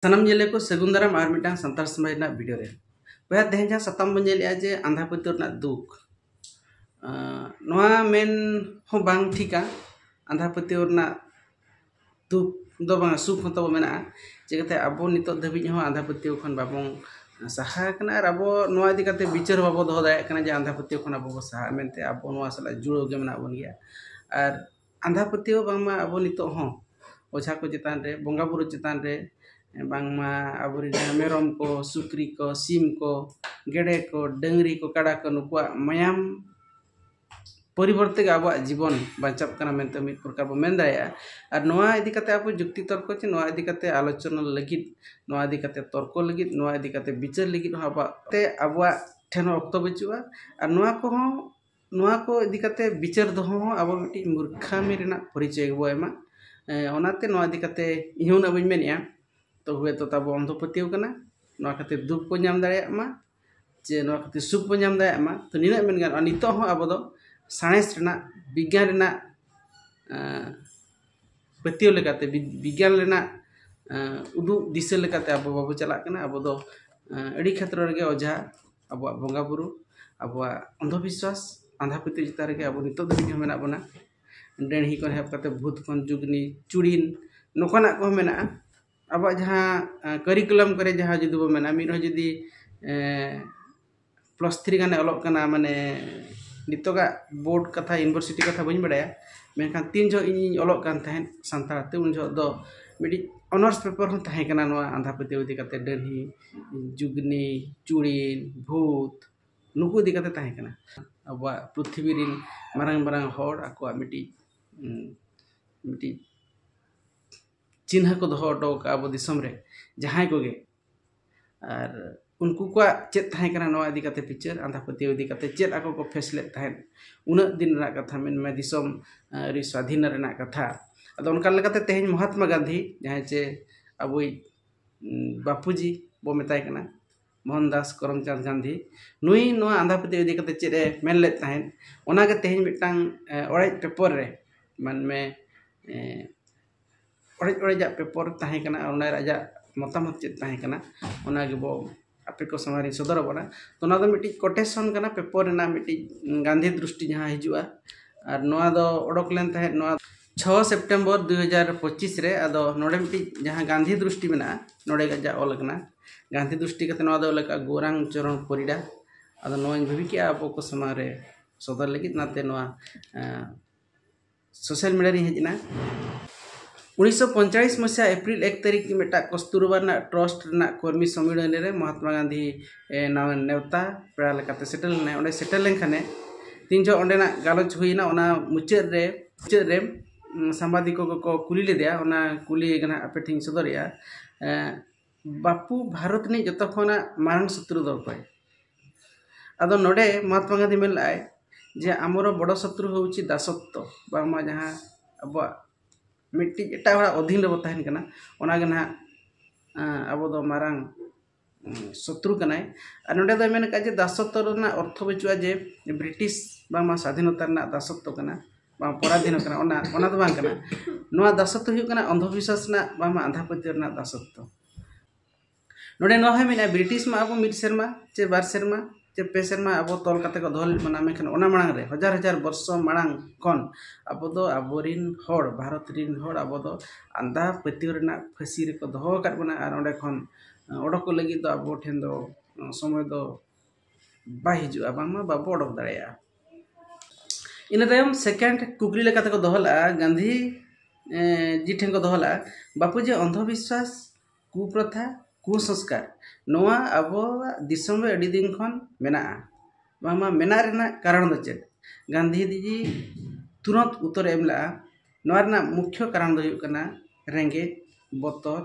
ᱥᱟᱱᱟᱢ ᱧᱮᱞᱮ ᱠᱚ ᱥᱟᱹᱜᱩᱱ ᱫᱟᱨᱟᱢ ᱟᱨ ᱢᱤᱫᱴᱟᱝ ᱥᱟᱱᱛᱟᱲ ᱥᱚᱢᱟᱡᱽ ᱨᱮᱱᱟᱜ ᱵᱷᱤᱰᱤᱭᱳ ᱨᱮ ᱵᱚᱭᱦᱟ ᱛᱮᱦᱮᱧ ᱡᱟᱦᱟᱸ ᱥᱟᱛᱟᱢ ᱵᱚᱱ ᱧᱮᱞᱮᱜᱼᱟ ᱡᱮ ᱟᱸᱫᱷᱟ ᱯᱟᱹᱛᱭᱟᱹᱣ ᱨᱮᱱᱟᱜ ᱫᱩᱠ ᱱᱚᱣᱟ ᱢᱮᱱ ᱦᱚᱸ ᱵᱟᱝ ᱴᱷᱤᱠᱟ ᱟᱸᱫᱷᱟ ᱯᱟᱹᱛᱭᱟᱹᱣ ᱨᱮᱱᱟᱜ ᱫᱩᱠ ᱫᱚ ᱵᱟᱝ ᱥᱩᱠ ᱦᱚᱸ ᱛᱟᱵᱚ ᱢᱮᱱᱟᱜᱼᱟ ᱪᱤᱠᱟᱹᱛᱮ ᱟᱵᱚ ᱱᱤᱛᱚᱜ ᱫᱷᱟᱹᱵᱤᱡ ᱦᱚᱸ ᱟᱸᱫᱷᱟ ᱯᱟᱹᱛᱭᱟᱹᱣ ᱠᱷᱚᱱ ᱵᱟᱵᱚᱱ ᱥᱟᱦᱟ ᱟᱠᱟᱱᱟ ᱟᱨ ᱟᱵᱚ ᱱᱚᱣᱟ ᱤᱫᱤ ᱠᱟᱛᱮ ᱵᱤᱪᱟᱹᱨ ᱵᱟᱵᱚ ᱫᱚᱦᱚ ᱫᱟᱲᱮᱭᱟᱜ ᱠᱟᱱᱟ ᱡᱮ ᱟᱸᱫᱷᱟ ᱯᱟᱹᱛᱭᱟᱹᱣ ᱠᱷᱚᱱ ᱟᱵᱚ ᱵᱚ ᱥᱟᱦᱟᱜᱼᱟ ᱢᱮᱱᱛᱮ ᱟᱵᱚ ᱱᱚᱣᱟ ᱥᱟᱞᱟᱜ ᱡᱩᱲᱟᱹᱣ ᱜᱮ ᱢᱮᱱᱟᱜ ᱵᱚᱱ ᱜᱮᱭᱟ ᱟᱨ ᱟᱸᱫᱷᱟ ᱯᱟᱹᱛᱭᱟᱹᱣ ᱵᱟᱝᱢᱟ ᱟᱵᱚ ᱱᱤᱛᱚᱜ ᱦᱚᱸ ᱚᱡᱷᱟ ᱠᱚ ᱪᱮᱛᱟᱱ ᱨᱮ ᱵᱚᱸᱜᱟ ᱵᱩᱨᱩ ᱪᱮᱛᱟᱱ ᱨᱮ ᱵᱟᱝᱢᱟ ᱟᱵᱚᱨᱮᱱ ᱡᱟᱦᱟᱸ ᱢᱮᱨᱚᱢ ᱠᱚ ᱥᱩᱠᱨᱤ ᱠᱚ ᱥᱤᱢ ᱠᱚ ᱜᱮᱰᱮ ᱠᱚ ᱰᱟᱹᱝᱨᱤ ᱠᱚ ᱠᱟᱰᱟ ᱠᱚ ᱱᱩᱠᱩᱣᱟᱜ ᱢᱟᱭᱟᱢ ᱯᱚᱨᱤᱵᱚᱨᱛᱮ ᱜᱮ ᱟᱵᱚᱣᱟᱜ ᱡᱤᱵᱚᱱ ᱵᱟᱧᱪᱟᱜ ᱠᱟᱱᱟ ᱢᱮᱱᱛᱮ ᱢᱤᱫ ᱯᱨᱚᱠᱟᱨ ᱵᱚᱱ ᱢᱮᱱ ᱫᱟᱲᱮᱭᱟᱜᱼᱟ ᱟᱨ ᱱᱚᱣᱟ ᱤᱫᱤ ᱠᱟᱛᱮᱫ ᱟᱵᱚ ᱡᱩᱠᱛᱤ ᱛᱚᱨᱠᱚ ᱪᱮ ᱱᱚᱣᱟ ᱤᱫᱤ ᱠᱟᱛᱮᱫ ᱟᱞᱳᱪᱚᱱᱟ ᱞᱟᱹᱜᱤᱫ ᱱᱚᱣᱟ ᱤᱫᱤ ᱠᱟᱛᱮᱫ ᱛᱚᱨᱠᱚ ᱞᱟᱹᱜᱤᱫ ᱱᱚᱣᱟ ᱤᱫᱤ ᱠᱟᱛᱮᱫ ᱵᱤᱪᱟᱹᱨ ᱞᱟᱹᱜᱤᱫ ᱦᱚᱸ ᱟᱵᱚᱣᱟᱜ ᱛᱮ ᱟᱵᱚᱣᱟᱜ ᱴᱷᱮᱱ ᱦᱚᱸ ᱚᱠᱛᱚ ᱵᱟᱹᱪᱩᱜᱼᱟ ᱟᱨ ᱱᱚᱣᱟ ᱠᱚᱦᱚᱸ ᱱᱚᱣᱟ ᱠᱚ ᱤᱫᱤ ᱠᱟᱛᱮᱫ ᱵᱤᱪᱟᱹᱨ ᱫᱚᱦᱚ ᱦᱚᱸ ᱟᱵᱚ ᱢᱤᱫᱴᱤᱡ ᱢᱩᱨᱠᱷᱟᱹᱢᱤ ᱨᱮᱱᱟᱜ ᱯᱚᱨᱤᱪᱚᱭ ᱜᱮᱵᱚᱱ ᱮᱢᱟ ᱚᱱᱟᱛᱮ ᱱᱚᱣᱟ ᱤᱫᱤ ᱠᱟᱛᱮᱫ ᱤᱧ ᱦᱚᱸ ᱩᱱᱟᱹᱜ ᱵᱟᱹᱧ ᱢᱮᱱᱮᱫᱼᱟ ᱛᱚ ᱦᱩᱭ ᱛᱚ ᱛᱟᱵᱚ ᱚᱱᱫᱷᱚ ᱯᱟᱹᱛᱭᱟᱹᱣ ᱠᱟᱱᱟ ᱱᱚᱣᱟ ᱠᱷᱟᱹᱛᱤᱨ ᱫᱩᱠ ᱵᱚᱱ ᱧᱟᱢ ᱫᱟᱲᱮᱭᱟᱜ ᱢᱟ ᱪᱮ ᱱᱚᱣᱟ ᱠᱷᱟᱹᱛᱤᱨ ᱥᱩᱠ ᱵᱚᱱ ᱧᱟᱢ ᱫᱟᱲᱮᱭᱟᱜ ᱢᱟ ᱛᱚ ᱱᱤᱱᱟᱹᱜ ᱢᱮᱱ ᱜᱟᱱᱚᱜᱼᱟ ᱱᱤᱛᱚᱜ ᱦᱚᱸ ᱟᱵᱚ ᱫᱚ ᱥᱟᱬᱮᱥ ᱨᱮᱱᱟᱜ ᱵᱤᱜᱽᱜᱟᱱ ᱨᱮᱱᱟᱜ ᱯᱟᱹᱛᱭᱟᱹᱣ ᱞᱮᱠᱟᱛᱮ ᱵᱤᱜᱽᱜᱟᱱ ᱨᱮᱱᱟᱜ ᱩᱫᱩᱜ ᱫᱤᱥᱟᱹ ᱞᱮᱠᱟᱛᱮ ᱟᱵᱚ ᱵᱟᱵᱚ ᱪᱟᱞᱟᱜ ᱠᱟᱱᱟ ᱟᱵᱚ ᱫᱚ ᱟᱹᱰᱤ ᱠᱷᱮᱛᱨᱮ ᱨᱮᱜᱮ ᱚᱡᱷᱟ ᱟᱵᱚᱣᱟᱜ ᱵᱚᱸᱜᱟ ᱵᱩᱨᱩ ᱟᱵᱚᱣᱟᱜ ᱚᱱᱫᱷᱚ ᱵᱤᱥᱥᱟᱥ ᱟᱸᱫᱷᱟ ᱯᱟᱹᱛᱭᱟᱹᱣ ᱪᱮᱛᱟᱱ ᱨᱮᱜᱮ ᱟᱵᱚ ᱱᱤᱛᱚᱜ ᱫᱷᱟᱹᱵᱤᱡ ᱦᱚᱸ ᱢᱮᱱᱟᱜ ᱵᱚᱱᱟ ᱰᱟᱹᱲᱦᱤ ᱠᱷᱚᱱ ᱮᱦᱚᱵ ᱠᱟᱛᱮᱫ ᱵᱷᱩᱛ ᱠᱷᱚᱱ ᱡᱩᱜᱽᱱᱤ ᱪᱩᱲᱤᱱ ᱱᱚᱝᱠᱟᱱᱟᱜ ᱠᱚᱦᱚᱸ ᱢᱮᱱᱟᱜᱼᱟ ᱟᱵᱚᱣᱟᱜ ᱡᱟᱦᱟᱸ ᱠᱟᱹᱨᱤᱠᱚᱞᱟᱢ ᱠᱚᱨᱮᱜ ᱡᱟᱦᱟᱸ ᱡᱩᱫᱤ ᱵᱚᱱ ᱢᱮᱱᱟ ᱢᱤᱫ ᱦᱚᱲ ᱡᱩᱫᱤ ᱯᱞᱟᱥ ᱛᱷᱨᱤ ᱜᱟᱱᱮ ᱚᱞᱚᱜ ᱠᱟᱱᱟ ᱢᱟᱱᱮ ᱱᱤᱛᱚᱜᱟᱜ ᱵᱳᱨᱰ ᱠᱟᱛᱷᱟ ᱤᱭᱩᱱᱤᱵᱷᱟᱨᱥᱤᱴᱤ ᱠᱟᱛᱷᱟ ᱵᱟᱹᱧ ᱵᱟᱲᱟᱭᱟ ᱢᱮᱱᱠᱷᱟᱱ ᱛᱤᱱ ᱡᱚᱦᱚᱜ ᱤᱧᱤᱧ ᱚᱞᱚᱜ ᱠᱟᱱ ᱛᱟᱦᱮᱸᱫ ᱥᱟᱱᱛᱟᱲ ᱛᱮ ᱩᱱ ᱡᱚᱦᱚᱜ ᱫᱚ ᱢᱤᱫᱴᱤᱡ ᱚᱱᱟᱨᱥ ᱯᱮᱯᱟᱨ ᱦᱚᱸ ᱛᱟᱦᱮᱸ ᱠᱟᱱᱟ ᱱᱚᱣᱟ ᱟᱸᱫᱷᱟ ᱯᱟᱹᱛᱭᱟᱹᱣ ᱤᱫᱤ ᱠᱟᱛᱮᱫ ᱰᱟᱹᱲᱦᱤ ᱡᱩᱜᱽᱱᱤ ᱪᱩᱲᱤᱱ ᱵᱷᱩᱛ ᱱᱩᱠᱩ ᱤᱫᱤ ᱠᱟᱛᱮᱫ ᱛᱟᱦᱮᱸ ᱠᱟᱱᱟ ᱟᱵᱚᱣᱟᱜ ᱯᱨᱤᱛᱷᱤᱵᱤ ᱨᱮᱱ ᱢᱟᱨᱟᱝ ᱢᱟᱨᱟᱝ ᱦᱚᱲ ᱟᱠᱚᱣᱟᱜ ᱢᱤᱫᱴᱤᱡ ᱢᱤᱫᱴᱤᱡ ᱪᱤᱱᱦᱟᱹ ᱠᱚ ᱫᱚᱦᱚ ᱦᱚᱴᱚ ᱠᱟᱜᱼᱟ ᱟᱵᱚ ᱫᱤᱥᱚᱢ ᱨᱮ ᱡᱟᱦᱟᱸᱭ ᱠᱚᱜᱮ ᱟᱨ ᱩᱱᱠᱩ ᱠᱚᱣᱟᱜ ᱪᱮᱫ ᱛᱟᱦᱮᱸ ᱠᱟᱱᱟ ᱱᱚᱣᱟ ᱤᱫᱤ ᱠᱟᱛᱮᱫ ᱵᱤᱪᱟᱹᱨ ᱟᱸᱫᱷᱟ ᱯᱟᱹᱛᱭᱟᱹᱣ ᱤᱫᱤ ᱠᱟᱛᱮᱫ ᱪᱮᱫ ᱟᱠᱚ ᱠᱚ ᱯᱷᱮᱥ ᱞᱮᱫ ᱛᱟᱦᱮᱸᱫ ᱩᱱᱟᱹᱜ ᱫᱤᱱ ᱨᱮᱱᱟᱜ ᱠᱟᱛᱷᱟ ᱢᱮᱱᱢᱮ ᱫᱤᱥᱚᱢ ᱟᱹᱣᱨᱤ ᱥᱟᱹᱫᱷᱤᱱ ᱨᱮᱱᱟᱜ ᱠᱟᱛᱷᱟ ᱟᱫᱚ ᱚᱱᱠᱟ ᱞᱮᱠᱟᱛᱮ ᱛᱮᱦᱮᱧ ᱢᱚᱦᱟᱛᱢᱟ ᱜᱟᱱᱫᱷᱤ ᱡᱟᱦᱟᱸᱭ ᱪᱮ ᱟᱵᱚᱭᱤᱡ ᱵᱟᱯᱩᱡᱤ ᱵᱚ ᱢᱮᱛᱟᱭ ᱠᱟᱱᱟ ᱢᱳᱦᱚᱱᱫᱟᱥ ᱠᱚᱨᱚᱢᱪᱟᱸᱫᱽ ᱜᱟᱱᱫᱷᱤ ᱱᱩᱭ ᱱᱚᱣᱟ ᱟᱸᱫᱷᱟ ᱯᱟᱹᱛᱭᱟᱹᱣ ᱤᱫᱤ ᱠᱟᱛᱮᱫ ᱪᱮᱫ ᱮ ᱢᱮᱱ ᱞᱮᱫ ᱛᱟᱦᱮᱸᱫ ᱚᱱᱟ ᱜᱮ ᱛᱮᱦᱮᱧ ᱢᱤᱫᱴᱟᱝ ᱚᱲᱮᱡ ᱯᱮᱯᱟᱨ ᱨᱮ ᱢᱮᱱᱢᱮ ᱚᱲᱮᱡ ᱚᱲᱮᱡᱟᱜ ᱯᱮᱯᱟᱨ ᱛᱟᱦᱮᱸ ᱠᱟᱱᱟ ᱚᱱᱟ ᱨᱮ ᱟᱡᱟᱜ ᱢᱚᱛᱟᱢᱚᱛ ᱪᱮᱫ ᱛᱟᱦᱮᱸ ᱠᱟᱱᱟ ᱚᱱᱟ ᱜᱮᱵᱚ ᱟᱯᱮ ᱠᱚ ᱥᱟᱢᱟᱝ ᱨᱤᱧ ᱥᱚᱫᱚᱨ ᱟᱵᱚᱱᱟ ᱛᱚ ᱱᱚᱣᱟ ᱫᱚ ᱢᱤᱫᱴᱤᱡ ᱠᱚᱴᱮᱥᱚᱱ ᱠᱟᱱᱟ ᱯᱮᱯᱟᱨ ᱨᱮᱱᱟᱜ ᱢᱤᱫᱴᱤᱡ ᱜᱟᱱᱫᱷᱤ ᱫᱨᱤᱥᱴᱤ ᱡᱟᱦᱟᱸ ᱦᱤᱡᱩᱜᱼᱟ ᱟᱨ ᱱᱚᱣᱟ ᱫᱚ ᱚᱰᱚᱠ ᱞᱮᱱ ᱛᱟᱦᱮᱸᱫ ᱱᱚᱣᱟ ᱪᱷᱚ ᱥᱮᱯᱴᱮᱢᱵᱚᱨ ᱫᱩ ᱦᱟᱡᱟᱨ ᱯᱚᱸᱪᱤᱥ ᱨᱮ ᱟᱫᱚ ᱱᱚᱰᱮ ᱢᱤᱫᱴᱤᱡ ᱡᱟᱦᱟᱸ ᱜᱟᱱᱫᱷᱤ ᱫᱨᱤᱥᱴᱤ ᱢᱮᱱᱟᱜᱼᱟ ᱱᱚᱰᱮ ᱜᱮ ᱟᱡᱟᱜ ᱚᱞ ᱠᱟᱱᱟ ᱜᱟᱱᱫᱷᱤ ᱫᱨᱤᱥᱴᱤ ᱠᱟᱛᱮᱫ ᱱᱚᱣᱟ ᱫᱚ ᱚᱞ ᱠᱟᱜᱼᱟ ᱜᱳᱨᱟᱝ ᱪᱚᱨᱚᱱ ᱯᱚᱨᱤᱰᱟ ᱟᱫᱚ ᱱᱚᱣᱟᱧ ᱵᱷᱟᱹᱵᱤ ᱠᱮᱫᱼᱟ ᱟᱵᱚ ᱠᱚ ᱥᱟᱢᱟᱝ ᱨᱮ ᱥᱚᱫᱚᱨ ᱞᱟᱹᱜᱤᱫ ᱚᱱᱟᱛᱮ ᱱᱚᱣᱟ ᱥᱳᱥᱟᱞ ᱢᱤᱰᱤᱭᱟ ᱨᱤᱧ ᱦᱮᱡ ᱮᱱᱟ ᱩᱱᱤᱥᱥᱚ ᱯᱚᱧᱪᱟᱲᱤᱥ ᱢᱚᱥᱤᱦᱟ ᱮᱯᱨᱤᱞ ᱮᱠ ᱛᱟᱹᱨᱤᱠᱷ ᱢᱤᱫᱴᱟᱝ ᱠᱚᱥᱛᱩᱨᱵᱟ ᱨᱮᱱᱟᱜ ᱴᱨᱚᱥᱴ ᱨᱮᱱᱟᱜ ᱠᱚᱨᱢᱤ ᱥᱚᱢᱢᱮᱞᱚᱱ ᱨᱮ ᱢᱚᱦᱟᱛᱢᱟ ᱜᱟᱱᱫᱷᱤ ᱱᱟᱣᱟ ᱱᱮᱣᱛᱟ ᱯᱮᱲᱟ ᱞᱮᱠᱟᱛᱮ ᱥᱮᱴᱮᱨ ᱞᱮᱱᱟᱭ ᱚᱸᱰᱮ ᱥᱮᱴᱮᱨ ᱞᱮᱱᱠᱷᱟᱱᱮ ᱛᱤᱱ ᱡᱚᱦᱚᱜ ᱚᱸᱰᱮᱱᱟᱜ ᱜᱟᱞᱚᱪ ᱦᱩᱭᱮᱱᱟ ᱚᱱᱟ ᱢᱩᱪᱟᱹᱫ ᱨᱮ ᱢᱩᱪᱟᱹᱫ ᱨᱮ ᱥᱟᱢᱵᱟᱫᱤᱠ ᱠᱚᱠᱚ ᱠᱩᱞᱤ ᱞᱮᱫᱮᱭᱟ ᱚᱱᱟ ᱠᱩᱞᱤ ᱜᱮ ᱱᱟᱦᱟᱜ ᱟᱯᱮ ᱴᱷᱮᱱᱤᱧ ᱥᱚᱫᱚᱨᱮᱜᱼᱟ ᱵᱟᱯᱩ ᱵᱷᱟᱨᱚᱛ ᱨᱤᱱᱤᱡ ᱡᱚᱛᱚ ᱠᱷᱚᱱᱟᱜ ᱢᱟᱨᱟᱝ ᱥᱚᱛᱨᱩ ᱫᱚ ᱚᱠᱚᱭ ᱟᱫᱚ ᱱᱚᱰᱮ ᱢᱚᱦᱟᱛᱢᱟ ᱜᱟᱱᱫᱷᱤ ᱢᱮᱱ ᱞᱮᱫᱟᱭ ᱡᱮ ᱟᱢᱚᱨᱚ ᱵᱚᱲᱚ ᱥᱚᱛᱨᱩ ᱦᱚᱣᱩᱪᱤ ᱫᱟᱥᱚᱛᱛᱚ ᱵᱟᱝᱢᱟ ᱡᱟᱦᱟᱸ ᱟᱵᱚᱣᱟᱜ ᱢᱤᱫᱴᱤᱡ ᱮᱴᱟᱜ ᱦᱚᱲᱟᱜ ᱚᱫᱷᱤᱱ ᱨᱮᱵᱚ ᱛᱟᱦᱮᱱ ᱠᱟᱱᱟ ᱚᱱᱟ ᱜᱮ ᱱᱟᱦᱟᱜ ᱟᱵᱚ ᱫᱚ ᱢᱟᱨᱟᱝ ᱥᱚᱛᱨᱩ ᱠᱟᱱᱟᱭ ᱟᱨ ᱱᱚᱰᱮ ᱫᱚᱭ ᱢᱮᱱ ᱟᱠᱟᱫᱼᱟ ᱡᱮ ᱫᱟᱥᱚᱛᱛᱚ ᱨᱮᱱᱟᱜ ᱚᱨᱛᱷᱚ ᱵᱟᱹᱪᱩᱜᱼᱟ ᱡᱮ ᱵᱨᱤᱴᱤᱥ ᱵᱟᱝᱢᱟ ᱥᱟᱫᱷᱤᱱᱚᱛᱟ ᱨᱮᱱᱟᱜ ᱫᱟᱥᱚᱛᱛᱚ ᱠᱟᱱᱟ ᱵᱟᱝ ᱯᱚᱨᱟᱫᱷᱤᱱ ᱠᱟᱱᱟ ᱚᱱᱟ ᱚᱱᱟ ᱫᱚ ᱵᱟᱝ ᱠᱟᱱᱟ ᱱᱚᱣᱟ ᱫᱟᱥᱚᱛ ᱫᱚ ᱦᱩᱭᱩᱜ ᱠᱟᱱᱟ ᱚᱱᱫᱷᱚ ᱵᱤᱥᱥᱟᱥ ᱨᱮᱱᱟᱜ ᱵᱟᱝᱢᱟ ᱟᱸᱫᱷᱟ ᱯᱟᱹᱛᱭᱟᱹᱣ ᱨᱮᱱᱟᱜ ᱫᱟᱥᱚᱛ ᱫᱚ ᱱᱚᱰᱮ ᱱᱚᱣᱟ ᱦᱚᱸ ᱢᱮᱱᱟᱜᱼᱟ ᱵᱨᱤᱴᱤᱥ ᱢᱟ ᱟᱵᱚ ᱢᱤᱫ ᱥᱮᱨᱢᱟ ᱪᱮ ᱵᱟᱨ ᱥᱮᱨᱢᱟ ᱪᱮ ᱯᱮ ᱥᱮᱨᱢᱟ ᱟᱵᱚ ᱛᱚᱞ ᱠᱟᱛᱮ ᱠᱚ ᱫᱚᱦᱚ ᱞᱮᱫ ᱵᱚᱱᱟ ᱢᱮᱱᱠᱷᱟᱱ ᱚᱱᱟ ᱢᱟᱲᱟᱝ ᱨᱮ ᱦᱟᱡᱟᱨ ᱦᱟᱡᱟᱨ ᱵᱚᱨᱥᱚ ᱢᱟᱲᱟᱝ ᱠᱷᱚᱱ ᱟᱵᱚ ᱫᱚ ᱟᱵᱚ ᱨᱮᱱ ᱦᱚᱲ ᱵᱷᱟᱨᱚᱛ ᱨᱮᱱ ᱦᱚᱲ ᱟᱵᱚ ᱫᱚ ᱟᱸᱫᱷᱟ ᱯᱟᱹᱛᱭᱟᱹᱣ ᱨᱮᱱᱟᱜ ᱯᱷᱟᱹᱥᱤ ᱨᱮᱠᱚ ᱫᱚᱦᱚ ᱟᱠᱟᱫ ᱵᱚᱱᱟ ᱟᱨ ᱚᱸᱰᱮ ᱠᱷᱚᱱ ᱚᱰᱚᱠᱚᱜ ᱞᱟᱹᱜᱤᱫ ᱫᱚ ᱟᱵᱚ ᱴᱷᱮᱱ ᱫᱚ ᱥᱚᱢᱚᱭ ᱫᱚ ᱵᱟᱭ ᱦᱤᱡᱩᱜᱼᱟ ᱵᱟᱝᱢᱟ ᱵᱟᱵᱚ ᱚᱰᱚᱠ ᱫᱟᱲᱮᱭᱟᱜᱼᱟ ᱤᱱᱟᱹ ᱛᱟᱭᱚᱢ ᱥᱮᱠᱮᱱᱰ ᱠᱩᱠᱞᱤ ᱞᱮᱠᱟ ᱛᱮᱠᱚ ᱫᱚᱦᱚ ᱞᱮᱫᱼᱟ ᱜᱟᱱᱫᱷᱤ ᱡᱤ ᱴᱷᱮᱱ ᱠᱚ ᱫᱚᱦᱚ ᱞᱮᱫᱼᱟ ᱵᱟᱯᱩᱡᱤ ᱚᱱᱫᱷᱚᱵᱤᱥᱣᱟᱥ ᱠᱩᱯᱨᱚᱛᱷᱟ ᱠᱩᱥᱚᱝᱥᱠᱟᱨ ᱱᱚᱣᱟ ᱟᱵᱚᱣᱟᱜ ᱫᱤᱥᱚᱢ ᱨᱮ ᱟᱹᱰᱤ ᱫᱤᱱ ᱠᱷᱚᱱ ᱢᱮᱱᱟᱜᱼᱟ ᱵᱟᱝᱢᱟ ᱢᱮᱱᱟᱜ ᱨᱮᱱᱟᱜ ᱠᱟᱨᱚᱱ ᱫᱚ ᱪᱮᱫ ᱜᱟᱱᱫᱷᱤ ᱡᱤ ᱛᱩᱨᱟᱹᱛ ᱩᱛᱛᱚᱨᱮ ᱮᱢ ᱞᱮᱫᱼᱟ ᱱᱚᱣᱟ ᱨᱮᱱᱟᱜ ᱢᱩᱠᱷᱭᱚ ᱠᱟᱨᱚᱱ ᱫᱚ ᱦᱩᱭᱩᱜ ᱠᱟᱱᱟ ᱨᱮᱸᱜᱮᱡ ᱵᱚᱛᱚᱨ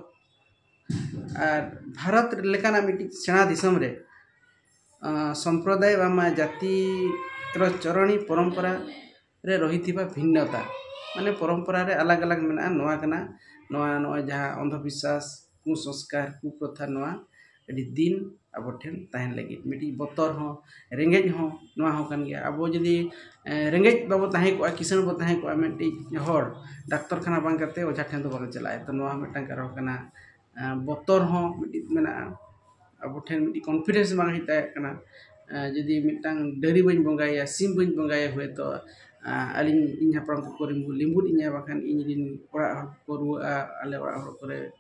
ᱟᱨ ᱵᱷᱟᱨᱚᱛ ᱞᱮᱠᱟᱱᱟᱜ ᱢᱤᱫᱴᱤᱡ ᱥᱮᱬᱟ ᱫᱤᱥᱚᱢ ᱨᱮ ᱥᱚᱢᱯᱨᱚᱫᱟᱭ ᱵᱟᱝᱢᱟ ᱡᱟᱹᱛᱤ ᱨᱮ ᱪᱚᱨᱚᱱᱤ ᱯᱚᱨᱚᱢᱯᱚᱨᱟ ᱨᱮ ᱨᱚᱦᱤᱛᱤᱵᱟ ᱵᱷᱤᱱᱱᱚᱛᱟ ᱢᱟᱱᱮ ᱯᱚᱨᱚᱢᱯᱚᱨᱟ ᱨᱮ ᱟᱞᱟᱜᱽ ᱟᱞᱟᱜᱽ ᱢᱮᱱᱟᱜᱼᱟ ᱱᱚᱣᱟ ᱠᱟᱱᱟ ᱱᱚᱣᱟ ᱱᱚᱜᱼᱚᱭ ᱡᱟᱦᱟᱸ ᱚᱱᱫᱷᱚ ᱵᱤᱥᱥᱟᱥ ᱠᱩᱥᱚᱝᱥᱠᱟᱨ ᱠᱩᱯᱨᱚᱛᱷᱟ ᱱᱚᱣᱟ ᱟᱹᱰᱤ ᱫᱤᱱ ᱟᱵᱚ ᱴᱷᱮᱱ ᱛᱟᱦᱮᱱ ᱞᱟᱹᱜᱤᱫ ᱢᱤᱫᱴᱤᱡ ᱵᱚᱛᱚᱨ ᱦᱚᱸ ᱨᱮᱸᱜᱮᱡ ᱦᱚᱸ ᱱᱚᱣᱟ ᱦᱚᱸ ᱠᱟᱱ ᱜᱮᱭᱟ ᱟᱵᱚ ᱡᱩᱫᱤ ᱨᱮᱸᱜᱮᱡ ᱵᱟᱵᱚ ᱛᱟᱦᱮᱸ ᱠᱚᱜᱼᱟ ᱠᱤᱥᱟᱹᱬ ᱵᱚ ᱛᱟᱦᱮᱸ ᱠᱚᱜᱼᱟ ᱢᱤᱫᱴᱤᱡ ᱦᱚᱲ ᱰᱟᱠᱛᱚᱨ ᱠᱷᱟᱱᱟ ᱵᱟᱝ ᱠᱟᱛᱮᱫ ᱚᱡᱷᱟ ᱴᱷᱮᱱ ᱫᱚ ᱵᱟᱵᱚ ᱪᱟᱞᱟᱜᱼᱟ ᱮᱠᱫᱚᱢ ᱱᱚᱣᱟ ᱦᱚᱸ ᱢᱤᱫᱴᱟᱝ ᱠᱟᱨᱚᱱ ᱠᱟᱱᱟ ᱵᱚᱛᱚᱨ ᱦᱚᱸ ᱢᱤᱫᱴᱤᱡ ᱢᱮᱱᱟᱜᱼᱟ ᱟᱵᱚ ᱴᱷᱮᱱ ᱢᱤᱫᱴᱤᱡ ᱠᱚᱱᱯᱷᱤᱰᱮᱱᱥ ᱵᱟᱝ ᱦᱮᱡ ᱫᱟᱲᱮᱭᱟᱜ ᱠᱟᱱᱟ ᱡᱩᱫᱤ ᱢᱤᱫᱴᱟᱝ ᱰᱟᱹᱝᱨᱤ ᱵᱟᱹᱧ ᱵᱚᱸᱜᱟᱭᱮᱭᱟ ᱥᱤᱢ ᱵᱟᱹᱧ ᱵᱚᱸᱜᱟᱭᱮᱭᱟ ᱦᱳᱭᱛᱳ ᱟᱹᱞᱤᱧ ᱤᱧ ᱦᱟᱯᱲᱟᱢ ᱠᱚᱠᱚ ᱞᱤᱸᱵᱩᱫ ᱤᱧᱟᱹ ᱵᱟᱠᱷᱟᱱ ᱤᱧ ᱨᱮᱱ ᱚᱲᱟᱜ ᱦᱚᱲ ᱠᱚᱠᱚ ᱨᱩᱣᱟᱹᱜᱼᱟ ᱟᱞᱮ ᱚᱲᱟᱜ ᱦᱚᱲ ᱠᱚᱨᱮᱜ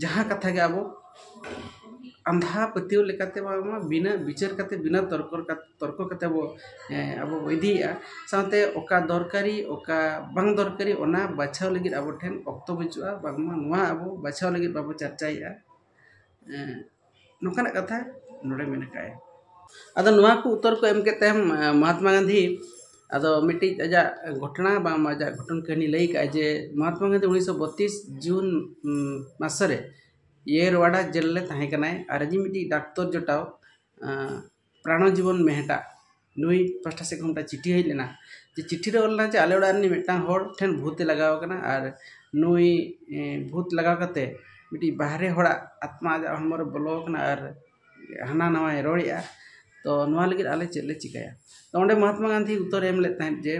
ᱡᱟᱦᱟᱸ ᱠᱟᱛᱷᱟ ᱜᱮ ᱟᱵᱚ ᱟᱸᱫᱷᱟ ᱯᱟᱹᱛᱭᱟᱹᱣ ᱞᱮᱠᱟᱛᱮ ᱵᱟᱝᱢᱟ ᱵᱤᱱᱟᱹ ᱵᱤᱪᱟᱹᱨ ᱠᱟᱛᱮᱫ ᱵᱤᱱᱟᱹ ᱛᱚᱨᱠᱚ ᱛᱚᱨᱠᱚ ᱠᱟᱛᱮᱫ ᱵᱚ ᱟᱵᱚ ᱵᱚ ᱤᱫᱤᱭᱮᱜᱼᱟ ᱥᱟᱶᱛᱮ ᱚᱠᱟ ᱫᱚᱨᱠᱟᱨᱤ ᱚᱠᱟ ᱵᱟᱝ ᱫᱚᱨᱠᱟᱨᱤ ᱚᱱᱟ ᱵᱟᱪᱷᱟᱣ ᱞᱟᱹᱜᱤᱫ ᱟᱵᱚ ᱴᱷᱮᱱ ᱚᱠᱛᱚ ᱵᱟᱹᱪᱩᱜᱼᱟ ᱵᱟᱝᱢᱟ ᱱᱚᱣᱟ ᱟᱵᱚ ᱵᱟᱪᱷᱟᱣ ᱞᱟᱹᱜᱤᱫ ᱵᱟᱵᱚ ᱪᱟᱨᱪᱟᱭᱮᱜᱼᱟ ᱱᱚᱝᱠᱟᱱᱟᱜ ᱠᱟᱛᱷᱟ ᱱᱚᱰᱮ ᱢᱮᱱ ᱟᱠᱟᱫᱼᱟᱭ ᱟᱫᱚ ᱱᱚᱣᱟ ᱠᱚ ᱩᱛᱛᱚᱨ ᱠᱚ ᱮᱢ ᱠᱮᱫ ᱛᱟᱭᱚᱢ ᱢᱚᱦᱟᱛᱢᱟ ᱜᱟᱱᱫᱷᱤ ᱟᱫᱚ ᱢᱤᱫᱴᱤᱡ ᱟᱡᱟᱜ ᱜᱷᱚᱴᱚᱱᱟ ᱵᱟᱝ ᱟᱡᱟᱜ ᱜᱷᱚᱴᱚᱱ ᱠᱟᱹᱦᱱᱤ ᱞᱟᱹᱭ ᱠᱟᱜᱼᱟᱭ ᱡᱮ ᱢᱚᱦᱟᱛᱢᱟ ᱜᱟᱱᱫᱷᱤ ᱩᱱᱤᱥᱥᱚ ᱵᱚᱛᱛᱨᱤᱥ ᱡᱩᱱ ᱢᱟᱥ ᱨᱮ ᱤᱭᱮᱨᱣᱟᱰᱟ ᱡᱮᱞ ᱨᱮ ᱛᱟᱦᱮᱸ ᱠᱟᱱᱟᱭ ᱟᱨ ᱟᱡᱤᱡ ᱢᱤᱫᱴᱤᱡ ᱰᱟᱠᱛᱚᱨ ᱡᱚᱴᱟᱣ ᱯᱨᱟᱱᱚ ᱡᱤᱵᱚᱱ ᱢᱮᱦᱮᱴᱟ ᱱᱩᱭ ᱯᱟᱥᱴᱟ ᱥᱮᱫ ᱠᱷᱚᱱ ᱢᱤᱫᱴᱟᱝ ᱪᱤᱴᱷᱤ ᱦᱮᱡ ᱞᱮᱱᱟ ᱡᱮ ᱪᱤᱴᱷᱤ ᱨᱮ ᱚᱞ ᱞᱮᱱᱟ ᱡᱮ ᱟᱞᱮ ᱚᱲᱟᱜ ᱨᱮᱱᱤᱡ ᱢᱤᱫᱴᱟᱝ ᱦᱚᱲ ᱴᱷᱮᱱ ᱵᱷᱩᱛᱮ ᱞᱟᱜᱟᱣ ᱠᱟᱱᱟ ᱟᱨ ᱱᱩᱭ ᱵᱷᱩᱛ ᱞᱟᱜᱟᱣ ᱠᱟᱛᱮᱫ ᱢᱤᱫᱴᱤᱡ ᱵᱟᱦᱨᱮ ᱦᱚᱲᱟᱜ ᱟᱛᱢᱟ ᱟᱡᱟᱜ ᱦᱚᱲᱢᱚ ᱨᱮ ᱵᱚᱞᱚ ᱠᱟᱱᱟ ᱟᱨ ᱦᱟᱱᱟ ᱱᱟᱣᱟᱭ ᱨᱚᱲᱮᱜᱼᱟ ᱛᱚ ᱱᱚᱣᱟ ᱞᱟᱹᱜᱤᱫ ᱟᱞᱮ ᱪᱮᱫ ᱞᱮ ᱪᱤᱠᱟᱹᱭᱟ ᱛᱚ ᱚᱸᱰᱮ ᱢᱚᱦᱟᱛᱢᱟ ᱜᱟᱱᱫᱷᱤ ᱩᱛᱛᱚᱨᱮ ᱮᱢ ᱞᱮᱫ ᱛᱟᱦᱮᱸᱫ ᱡᱮ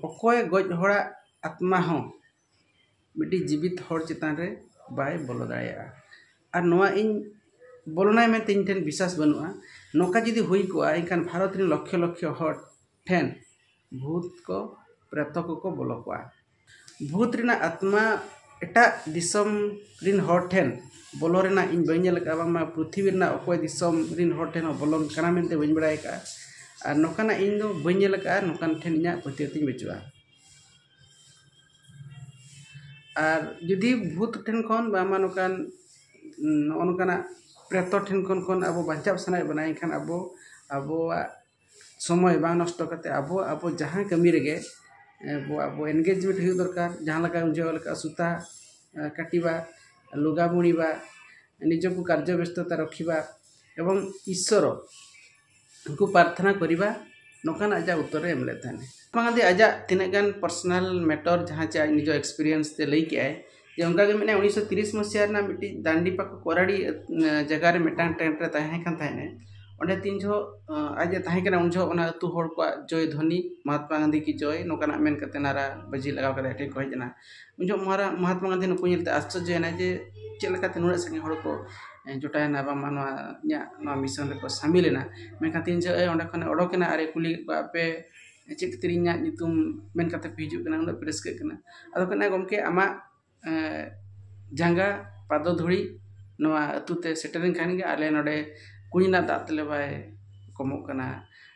ᱚᱠᱚᱭ ᱜᱚᱡ ᱦᱚᱲᱟᱜ ᱟᱛᱢᱟ ᱦᱚᱸ ᱢᱤᱫᱴᱤᱡ ᱡᱤᱵᱤᱛ ᱦᱚᱲ ᱪᱮᱛᱟᱱ ᱨᱮ ᱵᱟᱭ ᱵᱚᱞᱚ ᱫᱟᱲᱮᱭᱟᱜᱼᱟ ᱟᱨ ᱱᱚᱣᱟ ᱤᱧ ᱵᱚᱞᱚᱱᱟᱭ ᱢᱮᱱᱛᱮ ᱤᱧ ᱴᱷᱮᱱ ᱵᱤᱥᱥᱟᱥ ᱵᱟᱹᱱᱩᱜᱼᱟ ᱱᱚᱝᱠᱟ ᱡᱩᱫᱤ ᱦᱩᱭ ᱠᱚᱜᱼᱟ ᱮᱱᱠᱷᱟᱱ ᱵᱷᱟᱨᱚᱛ ᱨᱮᱱ ᱞᱚᱠᱠᱷᱚ ᱞᱚᱠᱠᱷᱚ ᱦᱚᱲ ᱴᱷᱮᱱ ᱵᱷᱩᱛ ᱠᱚ ᱯᱨᱮᱛᱚ ᱠᱚᱠᱚ ᱵᱚᱞᱚ ᱠᱚᱜᱼᱟ ᱵᱷᱩᱛ ᱨᱮᱱᱟᱜ ᱟᱛᱢᱟ ᱮᱴᱟᱜ ᱫᱤᱥᱚᱢ ᱨᱮᱱ ᱦᱚᱲ ᱴᱷᱮᱱ ᱵᱚᱞᱚ ᱨᱮᱱᱟᱜ ᱤᱧ ᱵᱟᱹᱧ ᱧᱮᱞ ᱠᱟᱜᱼᱟ ᱵᱟᱝᱢᱟ ᱯᱨᱤᱛᱷᱤᱵᱤ ᱨᱮᱱᱟᱜ ᱚᱠᱚᱭ ᱫᱤᱥᱚᱢ ᱨᱮᱱ ᱦᱚᱲ ᱴᱷᱮᱱ ᱦᱚᱸ ᱵᱚᱞᱚᱱ ᱠᱟᱱᱟ ᱢᱮᱱᱛᱮ ᱵᱟᱹᱧ ᱵᱟᱲᱟᱭ ᱠᱟᱜᱼᱟ ᱟᱨ ᱱᱚᱝᱠᱟᱱᱟᱜ ᱤᱧ ᱫᱚ ᱵᱟᱹᱧ ᱧᱮᱞ ᱠᱟᱜᱼᱟ ᱱᱚᱝᱠᱟᱱ ᱴᱷᱮᱱ ᱤᱧᱟᱹᱜ ᱯᱟᱹᱛᱭᱟᱹᱣ ᱛᱤᱧ ᱵᱟᱹᱪᱩᱜᱼᱟ ᱟᱨ ᱡᱩᱫᱤ ᱵᱷᱩᱛ ᱴᱷᱮᱱ ᱠᱷᱚᱱ ᱵᱟᱝᱢᱟ ᱱᱚᱝᱠᱟᱱ ᱱᱚᱜᱼᱚ ᱱᱚᱝᱠᱟᱱᱟᱜ ᱯᱨᱮᱛᱚ ᱴᱷᱮᱱ ᱠᱷᱚᱱ ᱠᱷᱚᱱ ᱟᱵᱚ ᱵᱟᱧᱪᱟᱣ ᱥᱟᱱᱟᱭᱮᱫ ᱵᱚᱱᱟ ᱮᱱᱠᱷᱟᱱ ᱟᱵᱚ ᱟᱵᱚᱣᱟᱜ ᱥᱚᱢᱚᱭ ᱵᱟᱝ ᱱᱚᱥᱴᱚ ᱠᱟᱛᱮᱫ ᱟᱵᱚ ᱟᱵᱚ ᱡᱟᱦᱟᱸ ᱠᱟᱹᱢᱤ ᱨᱮᱜᱮ ᱟᱵᱚ ᱟᱵᱚ ᱮᱱᱜᱮᱡᱽᱢᱮᱱᱴ ᱦᱩᱭᱩᱜ ᱫᱚᱨᱠᱟᱨ ᱡᱟᱦᱟᱸ ᱞᱮᱠᱟ ᱩᱱ ᱡᱚᱦᱚᱜ ᱞᱮᱠᱟ ᱥᱩᱛᱟ ᱠᱟᱴᱤᱵᱟ ᱞᱩᱜᱟ ᱵᱩᱬᱤᱵᱟ ᱱᱤᱡᱚᱠᱚ ᱠᱟᱨᱡᱚ ᱵᱮᱥᱛᱚᱛᱟ ᱨᱚᱠᱷᱤᱵᱟ ᱮᱵᱚᱝ ᱤᱥᱥᱚᱨᱚ ᱩᱱᱠᱩ ᱯᱟᱨᱛᱷᱱᱟ ᱠᱚᱨᱤᱵᱟ ᱱᱚᱠᱟᱱ ᱟᱡᱟᱜ ᱩᱛᱚᱨ ᱮ ᱮᱢ ᱞᱮᱫ ᱛᱟᱦᱮᱱ ᱵᱟᱝ ᱟᱫᱮ ᱟᱡᱟᱜ ᱛᱤᱱᱟᱹᱜ ᱜᱟᱱ ᱯᱟᱨᱥᱚᱱᱟᱞ ᱢᱮᱴᱚᱨ ᱡᱟᱦᱟᱸ ᱪᱮ ᱟᱡ ᱱᱤᱡᱚ ᱮᱠᱥᱯᱮᱨᱤᱭᱮᱱᱥ ᱛᱮ ᱞᱟᱹᱭ ᱠᱮᱜ ᱟᱭ ᱡᱮ ᱚᱱᱠᱟ ᱜᱮ ᱢᱮᱱᱟᱭᱟ ᱩᱱᱤᱥᱥᱚ ᱛᱤᱨᱤᱥ ᱢᱚᱥᱤᱦᱟ ᱨᱮᱱᱟᱜ ᱢᱤᱫᱴᱤᱡ ᱫᱟᱱᱰᱤ ᱯᱟᱠᱚ ᱠᱚᱨᱟᱲᱤ ᱡᱟᱭᱜᱟ ᱨᱮ ᱢᱤᱫᱴᱟᱝ ᱴᱮᱱᱴ ᱨᱮ ᱛᱟᱦᱮᱸ ᱠᱟᱱ ᱛᱟᱦᱮᱱᱮ ᱚᱸᱰᱮ ᱛᱤᱱ ᱡᱚᱦᱚᱜ ᱟᱡ ᱮ ᱛᱟᱦᱮᱸ ᱠᱟᱱᱟ ᱩᱱ ᱡᱚᱦᱚᱜ ᱚᱱᱟ ᱟᱛᱳ ᱦᱚᱲ ᱠᱚᱣᱟᱜ ᱡᱚᱭ ᱫᱷᱚᱱᱤ ᱢᱚᱦᱟᱛᱢᱟ ᱜᱟᱱᱫᱷᱤ ᱠᱤ ᱡᱚᱭ ᱱᱚᱠᱟᱱᱟᱜ ᱢᱮᱱ ᱠᱟᱛᱮ ᱱᱟᱨᱟ ᱵᱟᱹᱡᱤ ᱞᱟᱜᱟᱣ ᱠᱟᱛᱮ ᱟᱡ ᱴᱷᱮᱱ ᱠᱚ ᱦᱮᱡ ᱮᱱᱟ ᱩᱱ ᱡᱚᱦᱚᱜ ᱢᱟᱨᱟᱝ ᱢᱚᱦᱟᱛᱢᱟ ᱜᱟᱱᱫᱷᱤ ᱱᱩᱠᱩ ᱧᱮᱞᱛᱮ ᱟᱥᱪᱚᱨᱡᱚᱭᱮᱱᱟᱭ ᱡᱮ ᱪᱮᱫ ᱞᱮᱠᱟᱛᱮ ᱱᱩᱱᱟᱹᱜ ᱥᱟᱸᱜᱮ ᱦᱚᱲ ᱠᱚ ᱡᱚᱴᱟᱭᱮᱱᱟ ᱵᱟᱝᱢᱟ ᱱᱚᱣᱟ ᱤᱧᱟᱹᱜ ᱱᱚᱣᱟ ᱢᱤᱥᱚᱱ ᱨᱮᱠᱚ ᱥᱟᱹᱢᱤᱞᱮᱱᱟ ᱢᱮᱱᱠᱷᱟᱱ ᱛᱤᱱ ᱡᱚᱦᱚᱜ ᱮ ᱚᱸᱰᱮ ᱠᱷᱚᱱᱮ ᱚᱰᱚᱠᱮᱱᱟ ᱟᱨᱮ ᱠᱩᱞᱤ ᱠᱮᱫ ᱠᱚᱣᱟ ᱟᱯᱮ ᱪᱮᱫ ᱠᱷᱟᱹᱛᱤᱨ ᱤᱧᱟᱹᱜ ᱧᱩᱛᱩᱢ ᱢᱮᱱ ᱠᱟᱛᱮᱫ ᱯᱮ ᱦᱤᱡᱩᱜ ᱠᱟᱱᱟ ᱩᱱᱟᱹᱜ ᱯᱮ ᱨᱟᱹᱥᱠᱟᱹᱜ ᱠᱟᱱᱟ ᱟᱫᱚ ᱠᱚ ᱢᱮᱱᱟ ᱜᱚᱢᱠᱮ ᱟᱢᱟᱜ ᱡᱟᱸᱜᱟ ᱯᱟᱫᱚ ᱫᱷᱩᱲᱤ ᱱᱚᱣᱟ ᱟᱹᱛᱩᱛᱮ ᱥᱮᱴᱮᱨᱮᱱ ᱠᱷᱟᱱᱜᱮ ᱟᱞᱮ ᱱᱚᱰᱮ ᱠᱩᱧ ᱨᱮᱱᱟᱜ ᱫᱟᱜ ᱛᱟᱞᱮ ᱵᱟᱭ ᱠᱚᱢᱚᱜ ᱠᱟᱱᱟ